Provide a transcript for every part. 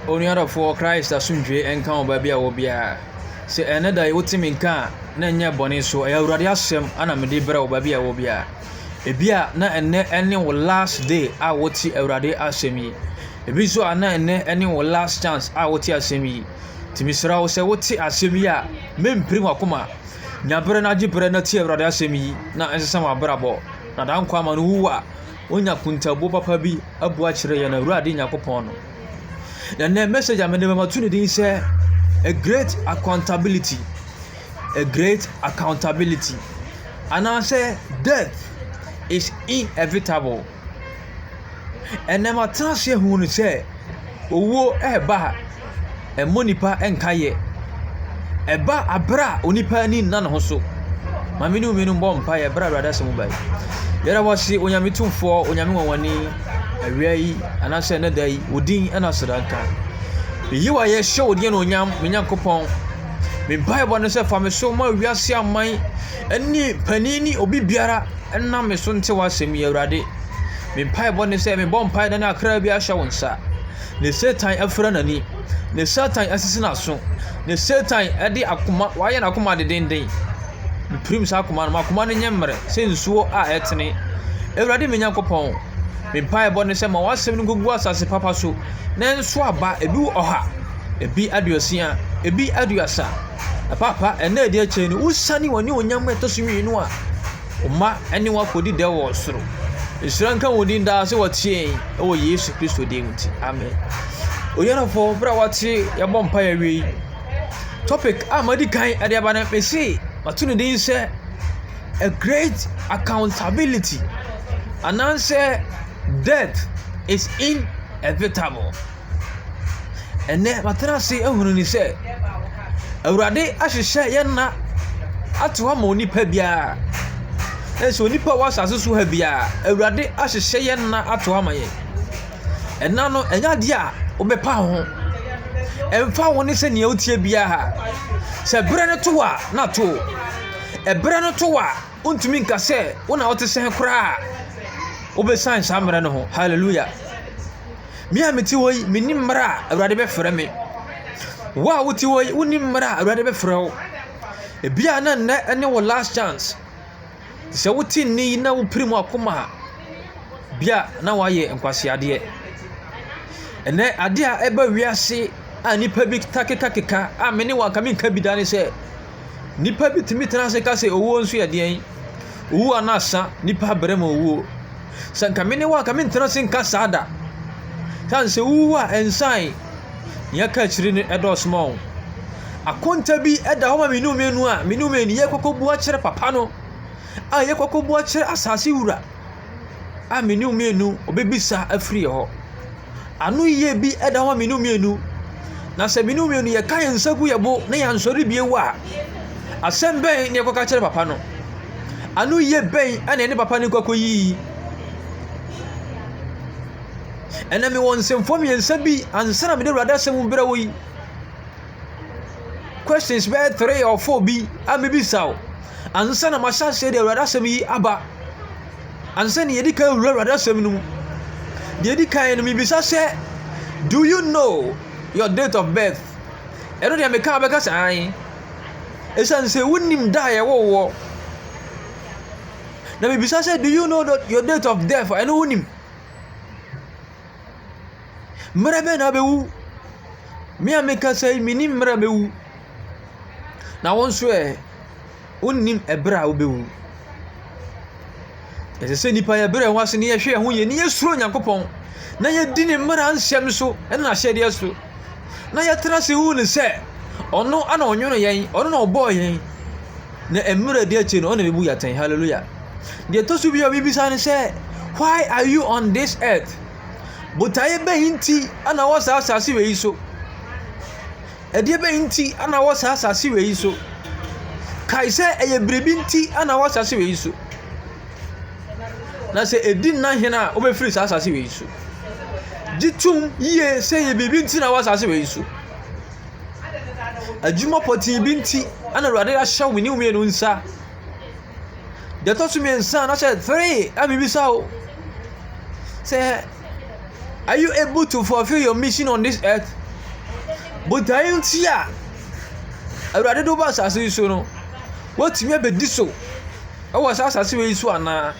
Onua dɔfoɔ, Christ asomdwoeɛ nka wo baabi a wɔ biara. Sɛ ɛnnɛ da yi wote me nka a, na ɛnyɛ bɔne so. Ɛyɛ Awurade asɛm na mede brɛ wo baabi a wɔ biara. Ebi a na ɛnnɛ ɛne wo last day a wote Awurade asɛm yi. Ebi nso a na ɛnnɛ ɛne wo last chance a wote asɛm yi. Nti mesrɛ wo sɛ wote asɛm yi a, mempiri w'akoma. Nya berɛ na gye berɛ na tie Awurade asɛm yi na ɛnsesa w'abrabɔ. Na da nkwa ama no wu a, Wonya akontaabuo papa bi abu akyerɛ yɛn Awurade Nyankopɔn no. Na nnɛ message a mede bɛma to ne din sɛ a great accountability a great accountability anaasɛ death is inevitable. Ɛnɛ matena ase ahu no sɛ Owuo reba a, ɛmmɔ nnipa nkaeɛ. Ɛba berɛ a onipa ani nna ne ho so. Maame ne wo mmienu mmɔ mpaeɛ berɛ a Awurade asɛm reba yi. Yɛda wo ase, Onyame Tumfoɔ, Onyame Nwanwani, awia yi anaasɛ ɛnnɛ da yi, wo din na aseda nka. Meyi wo ayɛ hyɛ wo din anuonyam, me Nyankopɔn. Me mpaebɔ ne sɛ fa me so ma wiase aman ne panin ne obi biara nam me so nte w'asɛm yi, Awurade. Me mpaebɔ ne sɛ mebɔ mpae na ne akra biara hyɛ wo nsa. Ne Satan afura n'ani. Ne Satan asisi n'aso. Ne Satan ɛde akoma wayɛ n'akoma dendenden. Mpirim saa akoma no. Ma akoma no nyɛ mmerɛ sɛ nsuo a ɛtene. Awurade me Nyankopɔn, me mpaebɔ ne sɛ ma w'asɛm no nkogu asase papa so na ɛnso aba ebi wɔ ɔha, ebi aduosia, ebi aduasa. Paapa ɛnna ɛdi akyire no wosane w'anuonyam ɛtɔ so mmienu a. Wo mma ne wo akɔdi dɛ wɔ soro. Nhyira nka wo din daa sɛ wɔtie yɛn wɔ Yesu Kristo din nti. Amen. Oyɛrɛfo berɛ a wɔte yɛbɔ mpa yɛ wie yi. Topic a madi kan de aba no mese mato no din sɛ a great accountability anaasɛ death is inevitable. Ɛnnɛ matena ase ahunu no sɛ, Awurade ahyehyɛ yɛn nna ato hɔ ama onipa biara. Kyerɛ sɛ onipa a ɔwɔ asase so ha biara, Awurade ahyehyɛ yɛn nna ato hɔ ama yɛn. Nna no, ɛnyɛ adeɛ a wobɛpa ho. Ɛmfa ho ne sɛdeɛ woteɛ biara, sɛ berɛ no to a, na to. Ɛberɛ no to a, wontumi nka sɛ wo na wote sɛn koraa a, wobɛsiane saa mmerɛ no ho. Hallelujah. Me a mete hɔ yi, mennim mmerɛ a Awurade bɛfrɛ me. Wo a wote hɔ yi, wonnim mmerɛ a Awurade bɛfrɛ wo. Ebi a na nnɛ ne wo last chance. Sɛ wote nne yi na wopirim akoma a, bi a na woayɛ nkwaseadeɛ. Ɛnɛ adeɛ a ɛba wiase a nnipa bi takekakeka a me ne wo anka menka bi da ne sɛ, Nnipa bi tumi tena ase ka sɛ owuo nso yɛ deɛn? Owuo anaa sa, nnipa brɛ ma owuo. Sɛ nka me ne wo a, nka mentena ase nka saa da. Sane sɛ wowu a ɛnsae. Nea ɛka akyiri no ɛdɔɔso ma wo. Akonta bi da hɔ ma me ne wo mmienu a, me ne wo mmienu yɛkɔkɔbu akyerɛ papa no a yɛkɔkɔbu akyerɛ asase wura. a mmienu mmienu wɔbɛbisa afiri hɔ. Anoyie bi da hɔ mmienu mmienu. Na sɛ mmienu mmienu yɛka yɛn nsa gu yɛn bo na yɛansɔre bio a, asɛm bɛn na yɛkɔka kyerɛ papa no? Anoyie bɛn na yɛne papa no kɔ akɔyi? Ɛnnɛ mewɔ nsɛmfua mmiɛnsa bi ansa na mede Awurade asɛm rebrɛ wo yi. questions bɛyɛ three or four bi a mebisa wo ansa na mahyɛ aseɛ de awurade asɛm yi aba ansa na yɛdi kan wura awurade asɛm no mu deɛ ɛdi kan no mebisa sɛ do you know your date of birth ɛno deɛ meka bɛka sɛ an ɛsiane sɛ wonim da a yɛwɔ woɔ na mebisa sɛ do you know your date of death ɛno wonim Mmerɛ bɛn na wobɛwu? Me a mekasa yi, mennim mmerɛ a mɛwu. Na wo nso ɛ, wonnim ɛberɛ a wobɛwu. Ɛsɛ sɛ nnipa yɛbrɛ yɛn ho ase na yɛhwɛ yɛn ho yie na yɛsuro Onyankopɔn na yɛdi ne mmara nsɛm so ne n'ahyɛdeɛ so na yɛtena ase hu no sɛ, ɔno na ɔnwonoo yɛn, ɔno na ɔbɔɔ yɛn. Na mmerɛ di akyire no ɔne me bu yɛ atɛn hallelujah deɛ ɛtɔ so bi a ɔbɛbisa ne sɛ why are you on this earth botaeɛ bɛyi nti ana wɔ saa asase wei so ɛdeɛ bɛyi nti ana wɔ saa asase wei so kae sɛ ɛyɛ biribi nti ana wɔ asase wei so na sɛ ɛdi nna hene a wobɛfiri saa asase wei so gye tom yie sɛ yɛ biribi nti na wɔ asase wei so Adwuma pɔtee bi nti na Awurade ahyɛ wo ne wo mmienu nsa. Deɛ ɛtɔ so mmiɛnsa no sɛ three na mebisa wo, sɛ are you able to fulfil your mission on this earth? Botaeɛ nti a Awurade de wo ba asase yi so no, woatumi abɛdi so wɔ saa asase wei so anaa?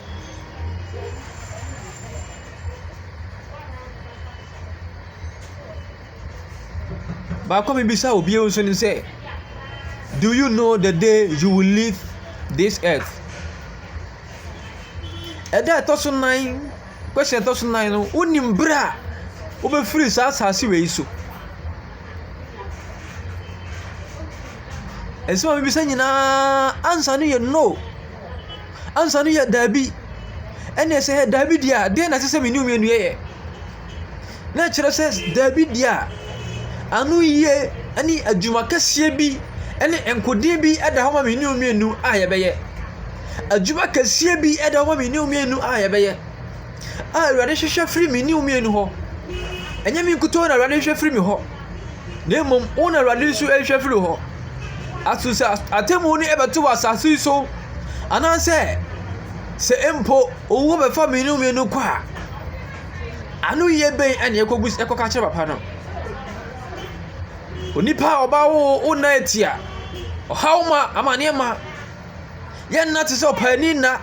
Baako a mebisa wɔ bio nso ne sɛ, Do you know the day you will leave this earth? Ɛda a ɛtɔ so nnan, question a ɛtɔ so nnan no, wonim bere a wobɛfiri saa asase wei so? Nsɛm a mebisa nyinaa, ansa no yɛ no. Ansa no yɛ daabi. Ɛnna sɛ ɛyɛ daabi deɛ a, deɛ na ɛsɛ sɛ me ne wo mmienu yɛ? na ɛkyerɛ sɛ daabi deɛ a, anoyie ne adwuma kɛseɛ bi ne nkodeɛ bi da hɔ ma me ne wo mmienu a yɛbɛyɛ. Adwuma kɛseɛ bi da hɔ ma me ne wo mmienu a yɛbɛyɛ a Awurade hwehwɛ firi me ne wo mmienu hɔ. Ɛnyɛ me nkutoo na Awurade hwehwɛ firi me hɔ, na mmom wo na Awurade nso hwehwɛ firi wo hɔ. Aso sɛ atemmuo no bɛto wɔ asase yi so anaasɛ sɛ mpo owuo bɛfa me ne wo mmienu kɔ a, Anoyie bɛn na ɛrekɔgu so akɔka akyerɛ papa no? Onipa a ɔba wo wo nna atia, ɔhaw ma, amaneɛ ma. Yɛ nna te sɛ ɔpaani nna,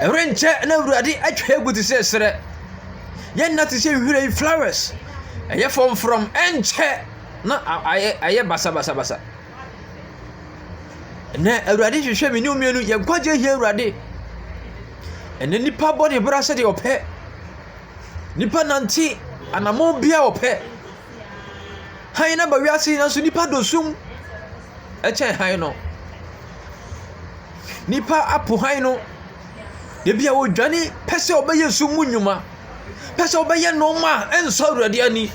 ɛrenkyɛ na Awurade atwa agu te sɛ serɛ. Yɛ nna te sɛ nhwiren, flowers, ɛyɛ frɔmfrɔm, ɛrenkyɛ na ayɛ ayɛ basabasabasa. Ɛnnɛ, Awurade hwehwɛ me ne wo mmienu, yɛn nkwagyeɛ hia Awurade. Ɛnnɛ nnipa bɔ ne bra sɛdeɛ ɔpɛ. Nnipa nante anammɔn biara a ɔpɛ. Hann no aba wiase nyinaa nso nnipa dɔ sum kyɛn hann no. Nnipa apo hann no, ebia wɔdwane pɛ sɛ wɔbɛyɛ sum mu nnwuma. ɔpɛ sɛ ɔbɛyɛ nneɛma a ɛnsɔ awurade ani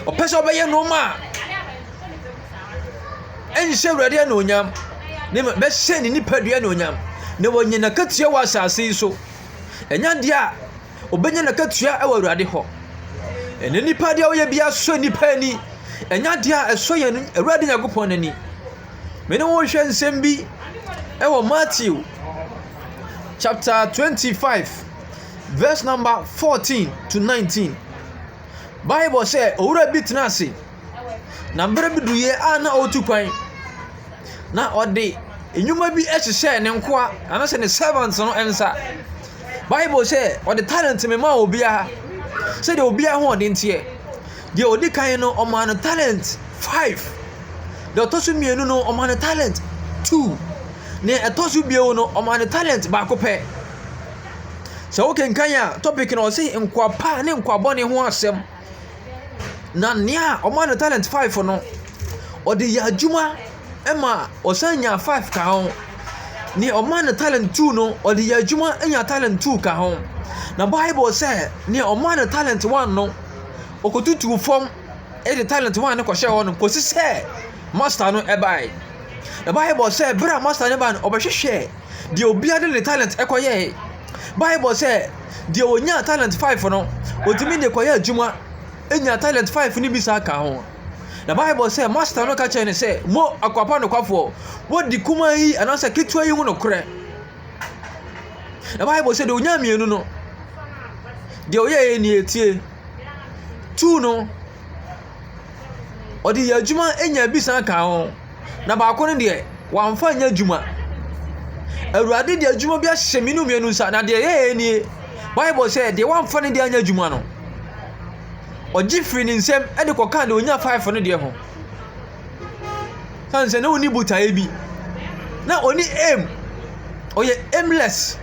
ɔpɛ sɛ ɔbɛyɛ nneɛma a ɛnhyɛ awurade anuonyam ne ma bɛhyɛ ne nipadua anuonyam na wɔnyɛ n'akatua wɔ asase yi so ɛnya deɛ a ɔbɛnya n'akatua wɔ awurade hɔ ɛne nipa deɛ ɔyɛ bia sɔ nipa ani ɛnya deɛ a ɛsɔ yɛn awurade nyankopɔn n'ani mene wo hwɛ nsɛm bi ɛwɔ matthew chapter twenty five. Verse number fourteen to nineteen. Bible sɛ owura bi tena ase na bere bi duyɛ a na ɔretu kwan na ɔde nnwuma bi hyehyɛɛ ne nkoa anaasɛ ne servants no nsa. Bible sɛ ɔde talent memaa obiara sɛdeɛ obiara ahoɔden teɛ. Deɛ ɔdi kan no ɔmaa no talent five. Deɛ ɔtɔ so mmienu no ɔmaa no talent two. Deɛ ɛtɔ so bio no ɔmaa no talent baako pɛ. Sɛ wokenkan a, topic no ɔse nkoa pa ne nkoa bɔne ho asɛm. Na nea ɔmaa no talent five no, ɔde yɛ adwuma ma ɔsan nya five ka ho. Nea ɔmaa no talent two no, ɔde yɛ adwuma nya talent two ka ho. Na Bible sɛ nea ɔmaa no talent one no, ɔkɔtutuu fam de talent one no kɔhyɛɛ hɔ no kɔsi sɛ master no bae. Na Bible sɛ berɛ a master no bae no, ɔbɛhwehwɛɛ deɛ obiara de ne talent kɔyɛeɛ. Bible sɛ, deɛ ɔnyaa talent five no, ɔtumi de kɔyɛɛ adwuma nyaa talent five no bi san kaa ho. Na Bible sɛ, master no ka kyerɛɛ no sɛ, mo akwapa nokwafoɔ, woadi kumaa yi anaasɛ ketewa yi ho nokorɛ. Na Bible sɛ, deɛ ɔnyaa mmienu no, deɛ ɔyɛeɛ nie, tie. Two no, Ɔde yɛ adwuma nya bi san ka ho. Na baako no deɛ, wamfa nyɛ adwuma. Awurade de adwuma bi ahyɛ me ne wo mmienu nsa, na deɛ ɛyɛeɛ nie, Bible sɛ, deɛ wamfa ne deɛ anyɛ adwuma no, ɔgye firi ne nsam de kɔka deɛ ɔnya five no deɛ ho. Ɛsiane sɛ na ɔnni botaeɛ bi, na ɔnni aim, ɔyɛ aimless.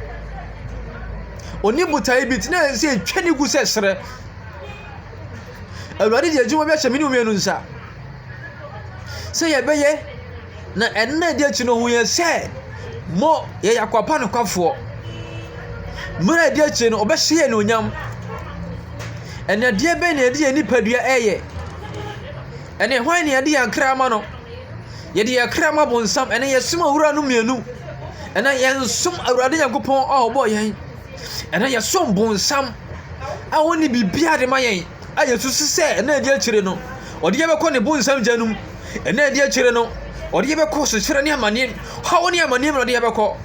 Ɔnni botaeɛ bi nti na ɛsɛ sɛ yɛtwa no gu sɛ serɛ. Awurade de adwuma bi ahyɛ me ne wo mmienu nsa. Sɛ yɛbɛyɛ na ɛno na ɛdi akyi no ho yɛ sɛ mo yɛ yakwapa nokwafoɔ. Mmerɛ ɛdi akyi no ɔbɛhyɛ yɛ anuonyam. Ɛnnadeɛ bɛn na yɛde yɛn nipadua ɛyɛ? Ɛne hwan na yɛde yɛn akra ma no? Yɛde yɛn akra ma bonsam ɛnna yɛsom awura no mmienu. Ɛnna yɛnsom Awurade Nyankopɔn a ɔbɔɔ yɛn. Ɛnnɛ yɛsom bonsam a onni biribiara de ma yɛn a yesusu sɛ ɛnnɛ a ɛdi akyiri no, ɔde yɛn bɛkɔ ne bonsam gya no mu. Ɛnnɛ a ɛdi akyiri no, ɔde yɛn bɛkɔ ɔsekyerɛ ne amanneɛ, ɔhaw ne amanneɛ mu na ɔde yɛn bɛkɔ.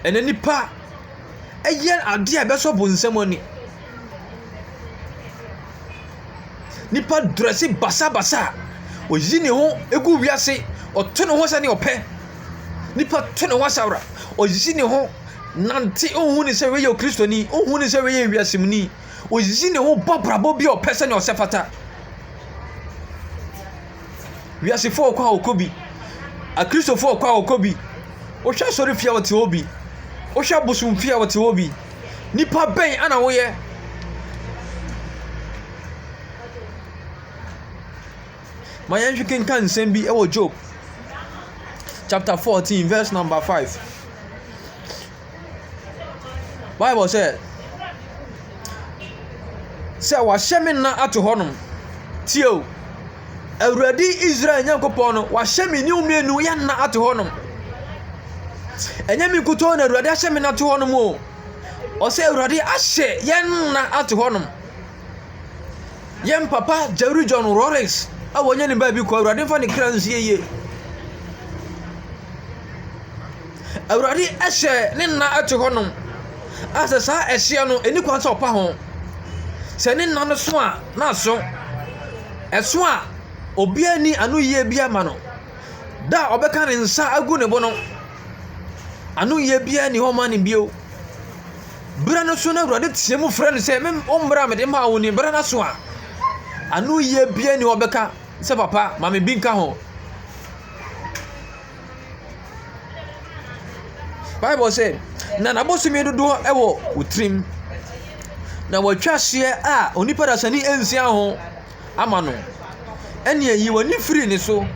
Ɛnnɛ nipa yɛ ade a ɛbɛsɔ bonsam ani. Nipa drɛse basabasa. Oyi ne ho gu wiase. Ɔto ne ho sɛnea ɔpɛ. Nipa to ne ho asaworam. Oyi ne ho nante. Wonhu no sɛ wei yɛ Kristoni. Wonhu no sɛ wei yɛ wiasemni. Oyi ne ho bɔ abrabɔ bi a ɔpɛ sɛnea ɔsɛ fata. Wiasefo ɔkɔ a wɔkɔ bi. Akristofo ɔkɔ a wɔkɔ bi. Wohwɛ asɔrefie a wɔte hɔ bi. Wohwɛ abosomfie a wɔte hɔ bi. Nnipa bɛn na woyɛ? Ma yɛn nso kenka nsɛm bi wɔ Job chapter fourteen verse number five. Bible sɛ sɛ wahyɛ me nna ato hɔnom tie o. Awurade Israel Nyankopɔn no, wahyɛ me ne wo mmienu yɛn nna ato hɔnom. Ɛnyɛ me nkutoo na Awurade ahyɛ me nna ato hɔnom o. Ɔsɛ Awurade ahyɛ yɛn nna ato hɔnom. Yɛn papa Jerry John Rollins a wɔnyɛ ne baabi kɔ Awurade mfa ne kra nsie yie. Awurade hyɛ ne nna ato hɔnom. Asɛ saa ɛhyeɛ no, ɛni kwan sɛ ɔpa ho. Sɛ ne nna no so a, na aso. ɛso a obiara nni anoyie biara ma no. Da a ɔbɛka ne nsa agu ne bo no, anoyie biara nni hɔ ma no bio. Berɛ no so na Awurade teɛ mu frɛ no sɛ, me wo mmara a mede maa wo nie, bra na so a. Anoyie biara nni hɔ a ɔbɛka sɛ, papa, ma me bi nka ho. Bible se, Na n'abosome dodoɔ wɔ wo tirim, na watwa hyeɛ a onipa dasani nsia ho ama no. Ɛnneɛ yi w'ani firi ne so,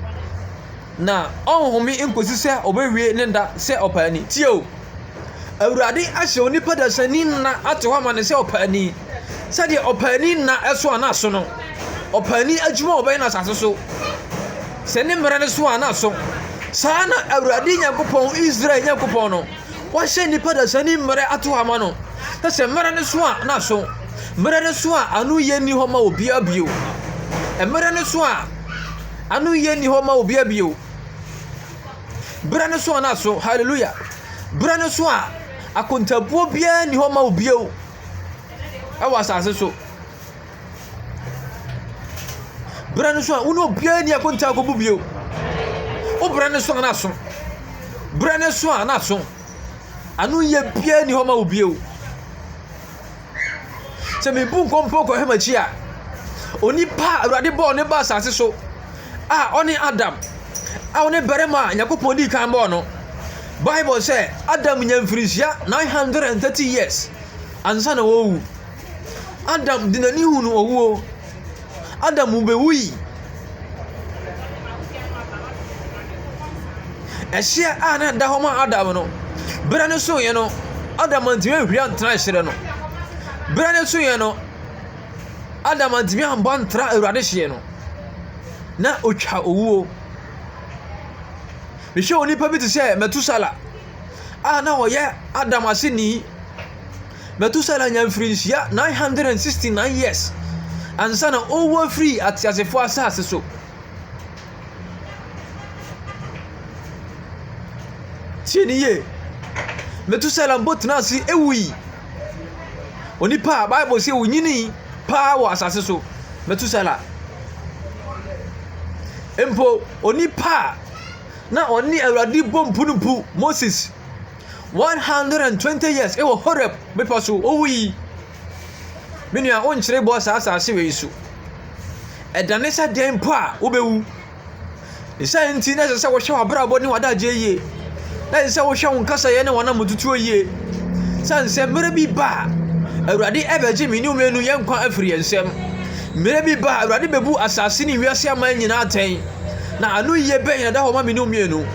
na ɔnhome nkɔsi sɛ ɔbɛwie ne nna sɛ ɔpaani. Tie o! Awurade ahyɛ onipa dasani nna ato hɔ ama no sɛ ɔpaani. Sɛdeɛ ɔpaani nna so a na aso no, ɔpaani adwuma a ɔbɛyɛ no asase so, sɛ ne mmerɛ no so a na aso. Saa na Awurade Nyankopɔn, Israel Nyankopɔn no, wahyɛ nnipa dasani mmerɛ ato hɔ ama no. Sɛ sɛ mmerɛ no so a na aso. Mmerɛ no so a ano yɛ nni hɔ ma obiara bio. Mmerɛ no so a ano yɛ nni hɔ ma obiara bio. Berɛ no so a na so, hallelujah, berɛ no so a akontabuo biara nni hɔ ma wo bio wɔ asase so. Berɛ no so a wo ne obiara nni akonta akɔbu bio. Wo berɛ no so a na so. Berɛ no so a na so. Ano yɛ biara nni hɔ ma wo bio. Sɛ mibu nkonko kɔ hɛn akyi a, onipa a Awurade bɔɔ no baa asase so a ɔne Adam a ɔne barima a Nyankopɔn dii kan bɔɔ no. Bible sɛ Adam nya mfirihyia 930 years ansa na owu. Adam de n'ani hunu owuo. Adam wubewui. Ɛhyeɛ a na ɛda hɔ ma Adam no, berɛ no soeɛ no, Adam antumi anhuri antena ɛhyeɛ no. Berɛ no soeɛ no, Adam antumi ammɔ antra Awurade hyeɛ no. Na ɔtwa owuo. Mehwɛ onipa bi te sɛ Metusala a na ɔyɛ Adam aseni. Metusela nyaa mfirinhyia 969 years ansa na ɔrewu afiri ateasefoɔ asase so. Tie ne yie. Metusela mpo tenaa ase ewui. Onipa a Bible sɛ onyini paa wɔ asase so. Metusela. Mpo onipa a na ɔne Awurade bɔ mpunumpu Moses. one hundred and twenty years wɔ horeb bepɔ so owui me nua wonkyere bɔ saa asase wei so ɛdane sɛ dɛn mpo a wobɛwu ne sɛ nti na ɛsɛ sɛ wohwɛ w'abrabɔ ne w'adagyeɛ yie na ɛsɛ sɛ wohwɛ wo nkasɛeɛ ne wɔnam tutuo yie sane sɛ mmerɛ bi ba a awurade ɛbɛgye me ne womenu yɛ nkwa afiri yɛn nsɛm mmerɛ bi ba a awurade bɛbu asase ne wiase aman nyinaa atɛn Na anoyie bɛn na ɛda hɔ ma me ne wo mmienu?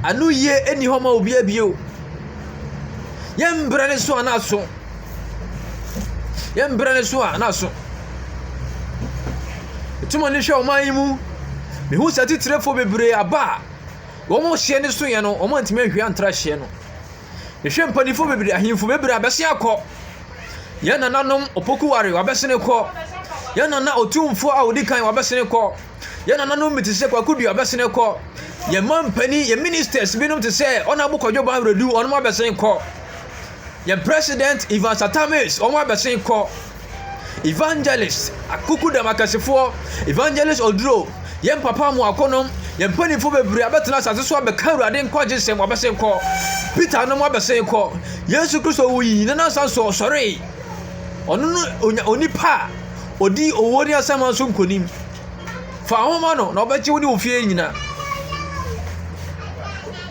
Anoyie nni hɔ ma obi abio. Yɛmbrɛ ne so a na aso. Yɛmbrɛ ne so a na aso. Ɛtuma ne hwɛ ɔman yi mu. Mehu sɛ titirefoɔ bebree aba a wɔn hyeɛ no so yɛ no wɔn antumi ahwie antra hyeɛ no. Mehwɛ mpanimfoɔ bebree ahemfo bebree abɛse akɔ. Yɛn nananom Opoku Ware, wabɛsen kɔ. Yɛn nana Otumfo a odi kan, wabɛsen kɔ. Yɛn nananom bi te sɛ Kwaku Duah, wabɛsen kɔ. Yɛn mampanin, yɛn ministers binom te sɛ Honourable Kwadwo Banwradu, wɔn abɛsen kɔ. Yɛn president Ivan Satamis, wɔn abɛsen kɔ. Evangelist Akuku Dam Akɛsefoɔ, Evangelist Oduro, Yɛn papa mmoakonom, yɛn mpanyimfo bebree abɛtena asase so abɛka Awurade nkwagye nsɛm, wɔabɛsen kɔ. Peter nom abɛsen kɔ. Yesu Kristo wui na nnansa nso ɔsɔree. Ɔno no onya onipa a ɔdi owuo ne asaman so nkonim. Fa wo ho ma no na ɔbɛgye wo ne wo fie nyina.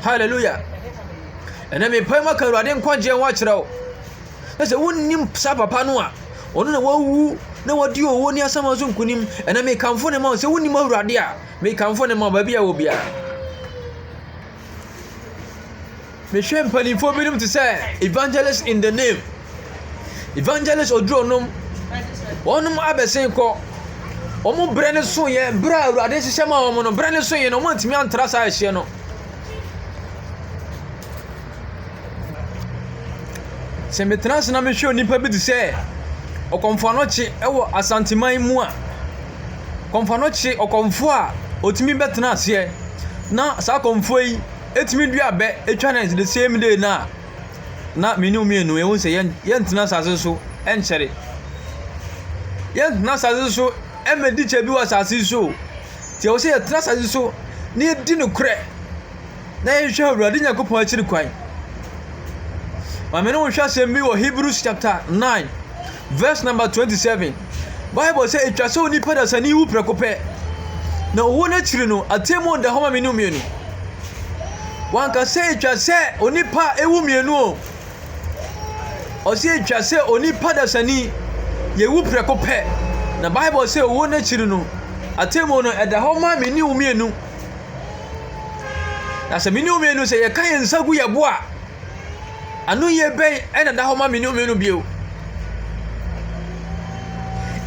Hallelujah. Ɛnɛ mepae mu aka Awurade nkwagyeɛ ho akyerɛ wo. na sɛ wonnim saa papa no a ɔno na wawu na wadi owuo ne asama so nkonim ɛna mekamfo ne ma wo sɛ wonnim awurade a mekamfo ne ma wo baabi a wɔ biara mehwɛ mpanimfoɔ binom te sɛ evangelist in the name evangelist oduro nom wɔnom abɛsen kɔ wɔn brɛ ne so yɛ brɛ a awurade hyehyɛ ma wɔn no brɛ ne so yɛ no wɔn antumi antra saa ɛhyɛ no Sɛ metena ase na mehwɛ onipa bi te sɛ Ɔkɔmfoanɔkye wɔ Asanteman mu a, Kɔmfoanɔkye, ɔkɔmfoɔ a ɔtumi bɛtena aseɛ na saa kɔmfoɔ yi tumi dua bɛ twa no the same day no a, na me ne wo mmienu yɛhu sɛ yɛrentena asase so nkyɛre. Yɛrentena asase so mmɛdi kyɛ bi wɔ asase so o. Nti ɛwɔ sɛ yɛtena asase so na yɛdi nokorɛ. na yɛnhwɛ Awurade Nyankopɔn akyiri kwan. Ma me ne wo nhwɛ asɛm bi wɔ Hebrews chapter nine verse number twenty-seven. Bible sɛ etwa sɛ onipa dasani wu prɛko pɛ, na owu no akyiri no atemmu da hɔ ma mmienu mmienu. Wanka sɛ etwa sɛ onipa ewu mmienu o. Ɔsɛ etwa sɛ onipa dasani yewu prɛko pɛ, na Bible sɛ owu no akyiri no atemmu no ɛda hɔ ma me ne wo mmienu. Na sɛ me ne wo mmienu sɛ yɛka yɛn nsa gu yɛn bo a, anoyie bɛn ɛna da hɔ ma me ne wo mmienu bio?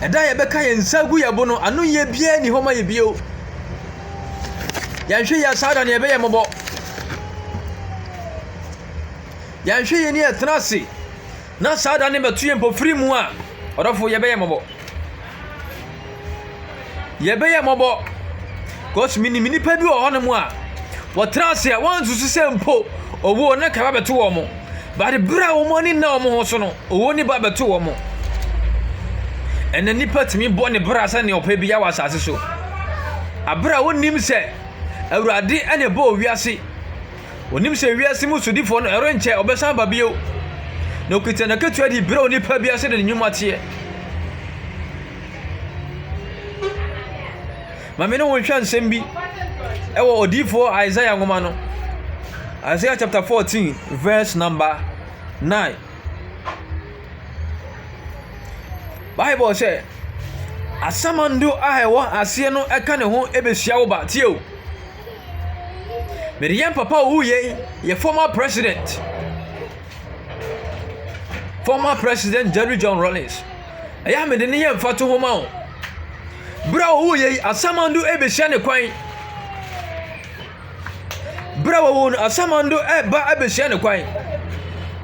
Ɛda a yɛbɛka yɛn nsa gu yɛn bo no, anoyie biara ni hɔ ma yɛ bio. Yɛnhwɛ yɛ saa da na yɛbɛyɛ mmɔbɔ. Yɛnhwɛ yɛ ni yɛtena ase. Na saa da no bɛto yɛn mpofiri mu a, ɔdɔfo yɛbɛyɛ mmɔbɔ. Yɛbɛyɛ mmɔbɔ. Because menim nnipa bi wɔ hɔnom a, wɔtra ase a wɔnsusu sɛ mpo owuo no ka ba bɛto wɔn mo. But berɛ a wɔn ani nna wɔn ho so no, owuo no ba bɛto wɔn mo. Ɛnna nipa tumi bɔ ne bra sɛnea ɔpɛ bia wɔ asase so. Aberɛ a wɔnnim sɛ Awurade na ɛbɔɔ wiase. Onim sɛ wiase mu sodifo no, ɛrenkyɛ ɔbɛsan aba bio, na okita n'akatua de brɛ onipa biara sɛdeɛ ne nnwuma teɛ. Ma me ne wo nhwɛ nsɛm bi ɛwɔ odiyifoɔ Isaiah nwoma no. Isaiah chapter 14 verse number 9. Bible sɛ asamando a ɛwɔ aseɛ no ɛka ne ho ɛbɛhyia wo ba tie o. Mede yɛn papa a ɔwuiɛ yi yɛ former president, former president Jerry John Rawlings. Ɛyɛ a mede ne yɛ mfatoho ma wo. Berɛ a ɔwuiɛ yi, Asamando ɛrebɛhyia ne kwan. Berɛ a wɔwoo no, Asamando ɛreba abɛhyia ne kwan.